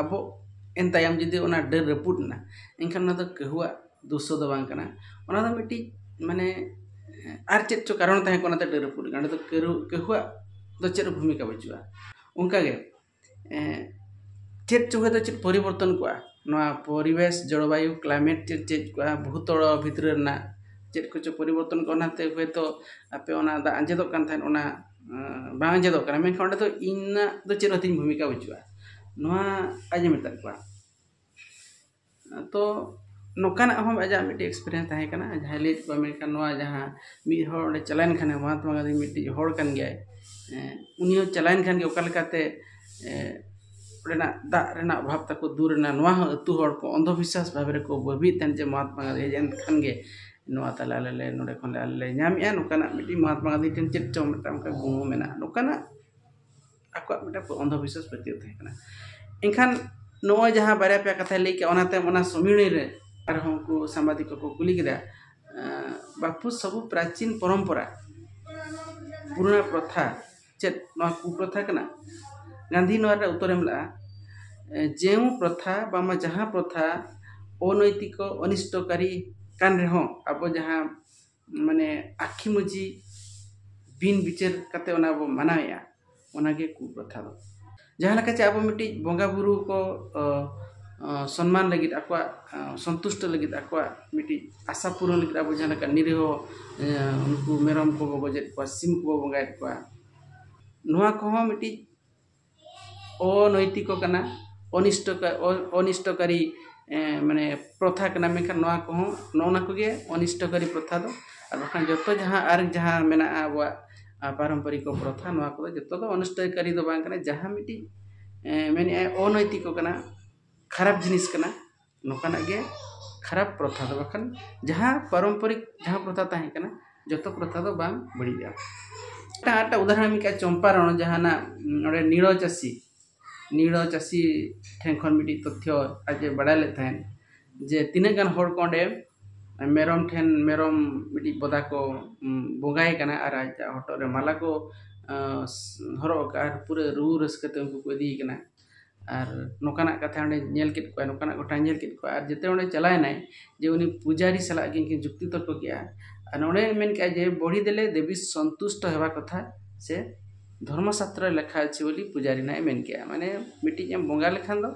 ᱟᱵᱚ ᱤᱱᱟᱹ ᱛᱟᱭᱚᱢ ᱡᱩᱫᱤ ᱚᱱᱟ ᱰᱟᱹᱨ ᱨᱟᱹᱯᱩᱫ ᱮᱱᱟ ᱮᱱᱠᱷᱟᱱ ᱚᱱᱟ ᱫᱚ ᱠᱟᱹᱦᱩᱣᱟᱜ ᱫᱳᱥ ᱫᱚ ᱵᱟᱝ ᱠᱟᱱᱟ ᱚᱱᱟ ᱫᱚ ᱢᱤᱫᱴᱤᱡ ᱢᱟᱱᱮ ᱟᱨ ᱪᱮᱫ ᱪᱚᱝ ᱠᱟᱨᱚᱱ ᱛᱟᱦᱮᱸ ᱠᱟᱱᱟ ᱚᱱᱟᱛᱮ ᱰᱟᱹᱨ ᱨᱟᱹᱯᱩᱫ ᱮᱱᱟ ᱚᱸᱰᱮ ᱫᱚ ᱠᱟᱹᱦᱩᱣᱟᱜ ᱫᱚ ᱪᱮᱫ ᱦᱚᱸ ᱵᱷᱩᱢᱤᱠᱟ ᱵᱟᱹᱪᱩᱜᱼᱟ ᱚᱱᱠᱟ ᱜᱮ ᱪᱮᱫ ᱪᱚᱝ ᱦᱚᱭᱛᱳ ᱪᱮᱫ ᱯᱚᱨᱤᱵᱚᱨᱛᱚᱱ ᱠᱚᱜᱼᱟ ᱱᱚᱣᱟ ᱯᱚᱨᱤᱵᱮᱥ ᱡᱚᱞᱵᱟᱭᱩ ᱠᱞᱟᱭᱢᱮᱴ ᱪᱮᱫ ᱪᱮᱫ ᱠᱚᱜᱼᱟ ᱵᱷᱩᱛᱚᱲᱚ ᱵᱷᱤᱛᱨᱤ ᱨᱮᱱᱟᱜ ᱪᱮᱫ ᱠᱚᱪᱚᱝ ᱯᱚᱨᱤᱵᱚᱨᱛᱚᱱ ᱠᱚᱜᱼᱟ ᱚᱱᱟᱛᱮ ᱦᱚᱭᱛᱳ ᱟᱯᱮ ᱚᱱᱟ ᱫᱟᱜ ᱟᱡᱮᱫᱚᱜ ᱠᱟᱱ ᱛᱟᱦᱮᱸᱫ ᱚᱱᱟ ᱵᱟᱝ ᱟᱸᱡᱮᱫᱚᱜ ᱠᱟᱱᱟ ᱢᱮᱱᱠᱷᱟᱱ ᱚᱸᱰᱮ ᱫᱚ ᱤᱧᱟᱹᱜ ᱫᱚ ᱪᱮᱫ ᱦᱚᱸ ᱛᱤᱧ ᱵᱷᱩᱢᱤᱠᱟ ᱵᱟᱹᱪᱩᱜᱼᱟ ᱱᱚᱣᱟ ᱟᱡ ᱮ ᱢᱮᱛᱟᱫ ᱠᱚᱣᱟ ᱛᱚ ᱱᱚᱝᱠᱟᱱᱟᱜ ᱦᱚᱸ ᱟᱡᱟᱜ ᱢᱤᱫᱴᱤᱡ ᱮᱠᱥᱯᱨᱤᱭᱮᱱᱥ ᱛᱟᱦᱮᱸ ᱠᱟᱱᱟ ᱡᱟᱦᱟᱸᱭ ᱞᱟᱹᱭᱮᱫ ᱠᱚᱣᱟᱭ ᱢᱮᱱᱠᱷᱟᱱ ᱱᱚᱣᱟ ᱡᱟᱦᱟᱸ ᱢᱤᱫ ᱦᱚᱲ ᱚᱸᱰᱮ ᱪᱟᱞᱟᱣᱮᱱ ᱠᱷᱟᱱᱮ ᱢᱚᱦᱟᱛᱢᱟ ᱜᱟᱹᱱᱫᱷᱤ ᱢᱤᱫᱴᱤᱡ ᱦᱚᱲ ᱠᱟᱱ ᱜᱮᱭᱟᱭ ᱩᱱᱤ ᱦᱚᱸ ᱪᱟᱞᱟᱣᱮᱱ ᱠᱷᱟᱱ ᱜᱮ ᱚᱠᱟ ᱞᱮᱠᱟᱛᱮ ᱚᱸᱰᱮᱱᱟᱜ ᱫᱟᱜ ᱨᱮᱱᱟᱜ ᱚᱵᱷᱟᱵᱽ ᱛᱟᱠᱚ ᱫᱩᱨ ᱮᱱᱟ ᱱᱚᱣᱟ ᱦᱚᱸ ᱟᱛᱳ ᱦᱚᱲ ᱠᱚ ᱚᱱᱫᱷᱚ ᱵᱤᱥᱥᱟᱥ ᱵᱷᱟᱵᱮ ᱨᱮᱠᱚ ᱵᱷᱟᱹᱵᱤᱭᱮᱫ ᱛᱟᱦᱮᱱ ᱡᱮ ᱢᱚᱦᱟᱛᱢᱟ ᱜᱟᱹᱱᱫᱷᱤ ᱦᱮᱡ ᱮᱱ ᱠᱷᱟᱱ ᱜᱮ ᱱᱚᱣᱟ ᱛᱟᱞᱮ ᱟᱞᱮ ᱞᱮ ᱱᱚᱰᱮ ᱠᱷᱚᱱ ᱟᱞᱮ ᱞᱮ ᱧᱟᱢᱮᱜᱼᱟ ᱱᱚᱝᱠᱟᱱᱟᱜ ᱢᱤᱫᱴᱤᱡ ᱢᱚᱦᱟᱛᱢᱟ ᱜᱟᱱᱫᱷᱤ ᱴᱷᱮᱱ ᱪᱮᱫ ᱪᱚᱝ ᱢᱤᱫᱴᱟᱝ ᱚᱱᱠᱟ ᱜᱩᱱ ᱢᱮᱱᱟᱜᱼᱟ ᱱᱚᱝᱠᱟᱱᱟᱜ ᱟᱠᱚᱣᱟᱜ ᱢᱤᱫᱴᱟᱝ ᱚᱱᱫᱷᱚ ᱵᱤᱥᱥᱟᱥ ᱯᱟᱹᱛᱭᱟᱹᱣ ᱛᱟᱦᱮᱸ ᱠᱟᱱᱟ ᱮᱱᱠᱷᱟᱱ ᱱᱚᱜᱼᱚᱸᱭ ᱡᱟᱦᱟᱸ ᱵᱟᱨᱭᱟ ᱯᱮᱭᱟ ᱠᱟᱛᱷᱟᱭ ᱞᱟᱹᱭ ᱠᱮᱜᱼᱟ ᱚᱱᱟ ᱛᱟᱭᱚᱢ ᱚᱱᱟ ᱥᱚᱢᱤᱞᱟᱹᱱᱤ ᱨᱮ ᱟᱨ ᱦᱚᱸ ᱩᱱᱠᱩ ᱥᱟᱢᱵᱟᱫᱤᱠ ᱠᱚᱠᱚ ᱠᱩᱞᱤ ᱠᱮᱫᱟ ᱵᱟᱹᱯᱩ ᱥᱟᱹᱜᱩᱱ ᱯᱨᱟᱪᱤᱱ ᱯᱚᱨᱚᱢᱯᱚᱨᱟ ᱯᱩᱨᱟᱹ ᱯᱨᱚᱛᱷᱟ ᱪᱮᱫ ᱱᱚᱣᱟ ᱠᱩᱯᱨᱚᱛᱷᱟ ᱠᱟᱱᱟ ᱜᱟᱱᱫᱷᱤ ᱱᱚᱣᱟ ᱨᱮᱱᱟᱜ ᱩᱛᱛᱚᱨᱮ ᱮᱢ ᱞᱮᱫᱼᱟ ᱡᱮᱣ ᱯᱨᱚᱛᱷᱟ ᱵᱟᱝᱢᱟ ᱡᱟᱦᱟᱸ ᱯᱨᱚᱛᱷᱟ ᱚᱱᱳᱭᱛᱤᱠᱚ ᱚᱱᱤᱥᱴᱚᱠᱟᱨᱤ ᱠᱟᱱ ᱨᱮᱦᱚᱸ ᱟᱵᱚ ᱡᱟᱦᱟᱸ ᱢᱟᱱᱮ ᱟᱹᱠᱷᱤ ᱢᱩᱡᱷᱤ ᱵᱤᱱ ᱵᱤᱪᱟᱹᱨ ᱠᱟᱛᱮᱫ ᱚᱱᱟ ᱵᱚᱱ ᱢᱟᱱᱟᱣᱮᱫᱼᱟ ᱚᱱᱟᱜᱮ ᱠᱩᱯᱨᱚᱛᱷᱟ ᱫᱚ ᱡᱟᱦᱟᱸ ᱞᱮᱠᱟ ᱪᱮ ᱟᱵᱚ ᱢᱤᱫᱴᱤᱡ ᱵᱚᱸᱜᱟ ᱵᱩᱨᱩ ᱠᱚ ᱥᱚᱱᱢᱟᱱ ᱞᱟᱹᱜᱤᱫ ᱟᱠᱚᱣᱟᱜ ᱥᱚᱱᱛᱩᱥᱴᱚ ᱞᱟᱹᱜᱤᱫ ᱟᱠᱚᱣᱟᱜ ᱢᱤᱫᱴᱤᱡ ᱟᱥᱟ ᱯᱩᱨᱟᱹᱱ ᱞᱟᱹᱜᱤᱫ ᱟᱵᱚ ᱡᱟᱦᱟᱸ ᱞᱮᱠᱟ ᱱᱤᱨᱤᱦᱚ ᱩᱱᱠᱩ ᱢᱮᱨᱚᱢ ᱠᱚᱵᱚ ᱜᱚᱡᱮᱫ ᱠᱚᱣᱟ ᱥᱤᱢ ᱠᱚᱵᱚ ᱵᱚᱸᱜᱟᱭᱮᱫ ᱠᱚᱣᱟ ᱱᱚᱣᱟ ᱠᱚᱦᱚᱸ ᱢᱤᱫᱴᱤᱡ ᱚᱱᱳᱭᱛᱤᱠᱚ ᱠᱟᱱᱟ ᱚᱱᱤᱥᱴᱚ ᱚᱱᱤᱥᱴᱚᱠᱟᱨᱤ ᱢᱟᱱᱮ ᱯᱨᱚᱛᱷᱟ ᱠᱟᱱᱟ ᱢᱮᱱᱠᱷᱟᱱ ᱱᱚᱣᱟ ᱠᱚᱦᱚᱸ ᱱᱚᱜᱼᱚ ᱱᱚᱣᱟ ᱠᱚᱜᱮ ᱚᱱᱤᱥᱴᱚᱠᱟᱨᱤ ᱯᱨᱚᱛᱷᱟ ᱫᱚ ᱟᱨ ᱵᱟᱠᱷᱟᱱ ᱡᱚᱛᱚ ᱡᱟᱦᱟᱸ ᱟᱨ ᱡᱟᱦᱟᱸ ᱢᱮᱱᱟᱜᱼᱟ ᱟᱵᱚᱣᱟᱜ ᱟᱨ ᱯᱟᱨᱚᱢᱯᱚᱨᱤᱠᱚ ᱯᱨᱚᱛᱷᱟ ᱱᱚᱣᱟ ᱠᱚᱫᱚ ᱡᱚᱛᱚ ᱫᱚ ᱚᱱᱤᱥᱴᱚᱠᱟᱨᱤ ᱫᱚ ᱵᱟᱝ ᱠᱟᱱᱟ ᱡᱟᱦᱟᱸ ᱢᱤᱫᱴᱤᱡ ᱢᱮᱱᱮᱫᱼᱟᱭ ᱚᱱᱳᱭᱛᱤᱠᱚ ᱠᱟᱱᱟ ᱠᱷᱟᱨᱟᱯ ᱡᱤᱱᱤᱥ ᱠᱟᱱᱟ ᱱᱚᱝᱠᱟᱱᱟᱜ ᱜᱮ ᱠᱷᱟᱨᱟᱯ ᱯᱨᱚᱛᱷᱟ ᱫᱚ ᱵᱟᱠᱷᱟᱱ ᱡᱟᱦᱟᱸ ᱯᱟᱨᱚᱢᱯᱚᱨᱤᱠ ᱡᱟᱦᱟᱸ ᱯᱨᱚᱛᱷᱟ ᱛᱟᱦᱮᱸ ᱠᱟᱱᱟ ᱡᱚᱛᱚ ᱯᱨᱚᱛᱷᱟ ᱫᱚ ᱵᱟᱝ ᱵᱟᱹᱲᱤᱡᱼᱟ ᱟᱨ ᱢᱤᱫᱴᱟᱝ ᱩᱫᱟᱦᱚᱨᱚᱱ ᱮᱢ ᱠᱮᱫᱼᱟ ᱪᱚᱢᱯᱟᱨᱚᱱ ᱡᱟᱦᱟᱱᱟᱜ ᱱᱚᱰᱮ ᱱᱤᱲᱚ ᱪᱟᱹᱥᱤ ᱱᱤᱲᱟᱹ ᱪᱟᱹᱥᱤ ᱴᱷᱮᱱ ᱠᱷᱚᱱ ᱢᱤᱫᱴᱤᱡ ᱛᱚᱛᱛᱷᱚ ᱟᱡ ᱮ ᱵᱟᱲᱟᱭ ᱞᱮᱫ ᱛᱟᱦᱮᱸᱫ ᱡᱮ ᱛᱤᱱᱟᱹᱜ ᱜᱟᱱ ᱦᱚᱲ ᱠᱚ ᱚᱸᱰᱮ ᱢᱮᱨᱚᱢ ᱴᱷᱮᱱ ᱢᱮᱨᱚᱢ ᱢᱤᱫᱴᱤᱡ ᱵᱚᱫᱟ ᱠᱚ ᱵᱚᱸᱜᱟᱭᱮ ᱠᱟᱱᱟ ᱟᱨ ᱟᱡᱟᱜ ᱦᱚᱴᱚᱜ ᱨᱮ ᱢᱟᱞᱟ ᱠᱚ ᱦᱚᱨᱚᱜ ᱟᱠᱟᱫᱼᱟ ᱟᱨ ᱯᱩᱨᱟᱹ ᱨᱩ ᱨᱟᱹᱥᱠᱟᱹ ᱛᱮ ᱩᱱᱠᱩ ᱠᱚ ᱤᱫᱤᱭᱮ ᱠᱟᱱᱟ ᱟᱨ ᱱᱚᱝᱠᱟᱱᱟᱜ ᱠᱟᱛᱷᱟ ᱚᱸᱰᱮ ᱧᱮᱞ ᱠᱮᱫ ᱠᱚᱣᱟᱭ ᱱᱚᱝᱠᱟᱱᱟᱜ ᱜᱷᱚᱴᱚᱱᱟᱭ ᱧᱮᱞ ᱠᱮᱫ ᱠᱚᱣᱟ ᱟᱨ ᱡᱮᱛᱮ ᱚᱸᱰᱮ ᱪᱟᱞᱟᱣ ᱮᱱᱟᱭ ᱡᱮ ᱩᱱᱤ ᱯᱩᱡᱟᱨᱤ ᱥᱟᱞᱟᱜ ᱜᱮ ᱩᱱᱠᱤᱱ ᱡᱩᱠᱛᱤ ᱛᱚᱨᱠᱚ ᱠᱮᱫᱼᱟ ᱟᱨ ᱱᱚᱰᱮ ᱢᱮᱱ ᱠᱮᱫᱼᱟᱭ ᱡᱮ ᱵᱚᱲᱦᱤ ᱫᱮᱞᱮ ᱫᱮᱵᱤ ᱥᱚᱱᱛᱩᱥᱴᱚ ᱦᱮᱵᱷᱟ ᱠᱚᱛᱷᱟ ᱥᱮ ᱫᱷᱚᱨᱢᱚ ᱥᱟᱥᱛᱨᱚ ᱨᱮ ᱞᱮᱠᱷᱟ ᱟᱪᱷᱮ ᱵᱚᱞᱮ ᱯᱩᱡᱟᱨᱤ ᱱᱟᱦᱟᱜ ᱮ ᱢᱮᱱ ᱠᱮᱜᱼᱟ ᱢᱟᱱᱮ ᱢᱤᱫᱴᱤᱡ ᱮᱢ ᱵᱚᱸᱜᱟ ᱞᱮᱠᱷᱟᱱ ᱫᱚ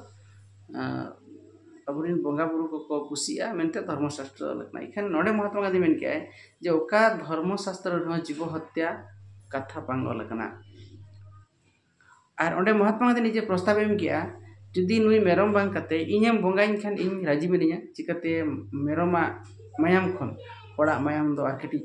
ᱟᱵᱚ ᱨᱮᱱ ᱵᱚᱸᱜᱟ ᱵᱳᱨᱳ ᱠᱚᱠᱚ ᱠᱩᱥᱤᱜᱼᱟ ᱢᱮᱱᱛᱮ ᱫᱷᱚᱨᱢᱚ ᱥᱟᱥᱛᱨᱚ ᱚᱞ ᱠᱟᱱᱟ ᱮᱱᱠᱷᱟᱱ ᱱᱚᱰᱮ ᱢᱚᱦᱟᱛᱢᱟ ᱜᱟᱱᱫᱷᱤ ᱢᱮᱱ ᱠᱮᱜᱼᱟᱭ ᱡᱮ ᱚᱠᱟ ᱫᱷᱚᱨᱢᱚ ᱥᱟᱥᱛᱨᱚ ᱨᱮᱦᱚᱸ ᱡᱤᱵᱚ ᱦᱚᱛᱛᱟ ᱠᱟᱛᱷᱟ ᱵᱟᱝ ᱚᱞ ᱠᱟᱱᱟ ᱟᱨ ᱚᱸᱰᱮ ᱢᱚᱦᱟᱛᱢᱟ ᱜᱟᱱᱫᱷᱤ ᱱᱤᱡᱮ ᱯᱨᱚᱥᱛᱟᱵᱽ ᱮ ᱮᱢ ᱠᱮᱜᱼᱟ ᱡᱩᱫᱤ ᱱᱩᱭ ᱢᱮᱨᱚᱢ ᱵᱟᱝ ᱠᱟᱛᱮᱫ ᱤᱧᱮᱢ ᱵᱚᱸᱜᱟ ᱤᱧ ᱠᱷᱟᱱ ᱤᱧ ᱨᱟᱹᱡᱤ ᱢᱤᱱᱟᱹᱧᱟ ᱪᱤᱠᱟᱹᱛᱮ ᱢᱮᱨᱚᱢᱟᱜ ᱢᱟᱭᱟᱢ ᱠᱷᱚᱱ ᱦᱚᱲᱟᱜ ᱢᱟᱭᱟᱢ ᱫᱚ ᱟᱨ ᱠᱟᱹᱴᱤᱡ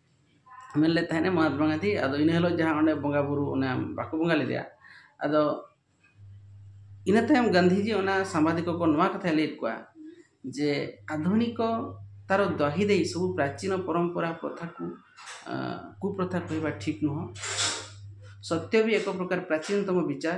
ᱢᱮᱱ ᱞᱮᱫ ᱛᱟᱦᱮᱱᱮ ᱢᱚᱦᱟᱛᱢᱟ ᱜᱟᱱᱫᱷᱤ ᱟᱫᱚ ᱤᱱᱟᱹ ᱦᱤᱞᱳᱜ ᱡᱟᱦᱟᱸ ᱚᱸᱰᱮ ᱵᱚᱸᱜᱟ ᱵᱩᱨᱩ ᱚᱱᱮ ᱵᱟᱠᱚ ᱵᱚᱸᱜᱟ ᱞᱮᱫᱮᱭᱟ ᱟᱫᱚ ᱤᱱᱟᱹ ᱛᱟᱭᱚᱢ ᱜᱟᱱᱫᱷᱤᱡᱤ ᱚᱱᱟ ᱥᱟᱢᱵᱟᱫᱤᱠᱚ ᱠᱚ ᱱᱚᱣᱟ ᱠᱟᱛᱷᱟᱭ ᱞᱟᱹᱭᱟᱫ ᱠᱚᱣᱟ ᱡᱮ ᱟᱫᱷᱩᱱᱤᱠᱚ ᱛᱟᱨᱚ ᱫᱟᱦᱤ ᱫᱮᱦᱤ ᱥᱩ ᱯᱨᱟᱪᱤᱱᱚ ᱯᱚᱨᱚᱢᱯᱚᱨᱟ ᱯᱨᱚᱛᱷᱟ ᱠᱚ ᱠᱩ ᱯᱨᱚᱛᱷᱟ ᱠᱚ ᱵᱟ ᱴᱷᱤᱠ ᱱᱚᱦᱚᱸ ᱥᱚᱛᱛᱚ ᱵᱷᱤ ᱮᱠᱚ ᱯᱨᱚᱠᱟᱨ ᱯᱨᱟᱪᱤᱱ ᱛᱚᱢᱚ ᱵᱤᱪᱟᱨ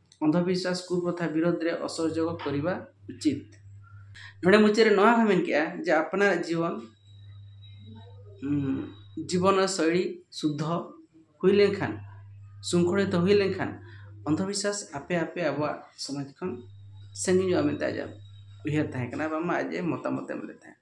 ᱚᱱᱫᱷᱚᱵᱤᱥᱣᱟᱥ ᱠᱩᱯᱨᱚᱛᱷᱟ ᱵᱤᱨᱚᱫᱷ ᱨᱮ ᱚᱥᱚᱦᱚᱡᱚᱜ ᱠᱚᱨᱤᱵᱟ ᱩᱪᱤᱛ᱾ ᱱᱚᱰᱮ ᱢᱩᱪᱟᱹᱫ ᱨᱮ ᱱᱚᱣᱟ ᱦᱚᱸᱭ ᱢᱮᱱ ᱠᱮᱫᱼᱟ ᱡᱮ ᱟᱯᱱᱟᱨᱟᱜ ᱡᱤᱭᱚᱱ ᱡᱤᱵᱚᱱ ᱥᱚᱭᱞᱤ ᱥᱩᱫᱷᱚ ᱦᱩᱭ ᱞᱮᱱ ᱠᱷᱟᱱ ᱥᱩᱝᱠᱷᱚᱲᱤᱛᱚ ᱦᱩᱭ ᱞᱮᱱ ᱠᱷᱟᱱ ᱚᱱᱫᱷᱚᱵᱤᱥᱣᱟᱥ ᱟᱯᱮ ᱟᱯᱮ ᱟᱵᱚᱣᱟᱜ ᱥᱚᱢᱟᱡᱽ ᱠᱷᱚᱱ ᱥᱟᱺᱜᱤᱧᱚᱜᱼᱟ ᱢᱮᱱᱛᱮ ᱟᱡᱟᱜ ᱩᱭᱦᱟᱹᱨ ᱛᱟᱦᱮᱸ ᱠᱟᱱᱟ ᱵᱟᱝᱢᱟ ᱟᱡ ᱮ ᱢᱚᱛᱟᱢᱚᱛ ᱮᱢ ᱞᱮᱫ ᱛᱟᱦᱮᱸᱫ᱾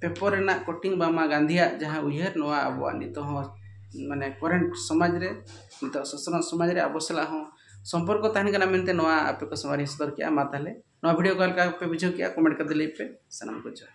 ᱯᱮᱯᱚᱨ ᱨᱮᱱᱟᱜ ᱠᱚᱴᱤᱝ ᱵᱟᱝᱢᱟ ᱜᱟᱱᱫᱷᱤᱭᱟᱜ ᱡᱟᱦᱟᱸ ᱩᱭᱦᱟᱹᱨ ᱱᱚᱣᱟ ᱟᱵᱚᱣᱟᱜ ᱱᱤᱛᱚᱜ ᱦᱚᱸ ᱢᱟᱱᱮ ᱠᱚᱨᱮᱱᱴ ᱥᱚᱢᱟᱡᱽ ᱨᱮ ᱱᱤᱛᱚᱜ ᱥᱚᱥᱱᱚᱜ ᱥᱚᱢᱟᱡᱽ ᱨᱮ ᱟᱵᱚ ᱥᱟᱞᱟᱜ ᱦᱚᱸ ᱥᱚᱢᱯᱚᱨᱠᱚ ᱛᱟᱦᱮᱱ ᱠᱟᱱᱟ ᱢᱮᱱᱛᱮ ᱱᱚᱣᱟ ᱟᱯᱮ ᱠᱚ ᱥᱟᱢᱟᱝ ᱨᱤᱧ ᱥᱚᱫᱚᱨ ᱠᱮᱜᱼᱟ ᱢᱟ ᱛᱟᱦᱚᱞᱮ ᱱᱚᱣᱟ ᱵᱷᱤᱰᱭᱳ ᱚᱠᱟ ᱞᱮᱠᱟ ᱯᱮ ᱵᱩᱡᱷᱟᱹᱣ ᱠᱮᱜᱼᱟ ᱠᱚᱢᱮᱱᱴ ᱠᱟᱛᱮ ᱞᱟᱹᱭ ᱯᱮ ᱥᱟᱱᱟᱢ ᱠᱚ ᱡᱚᱦᱟᱨ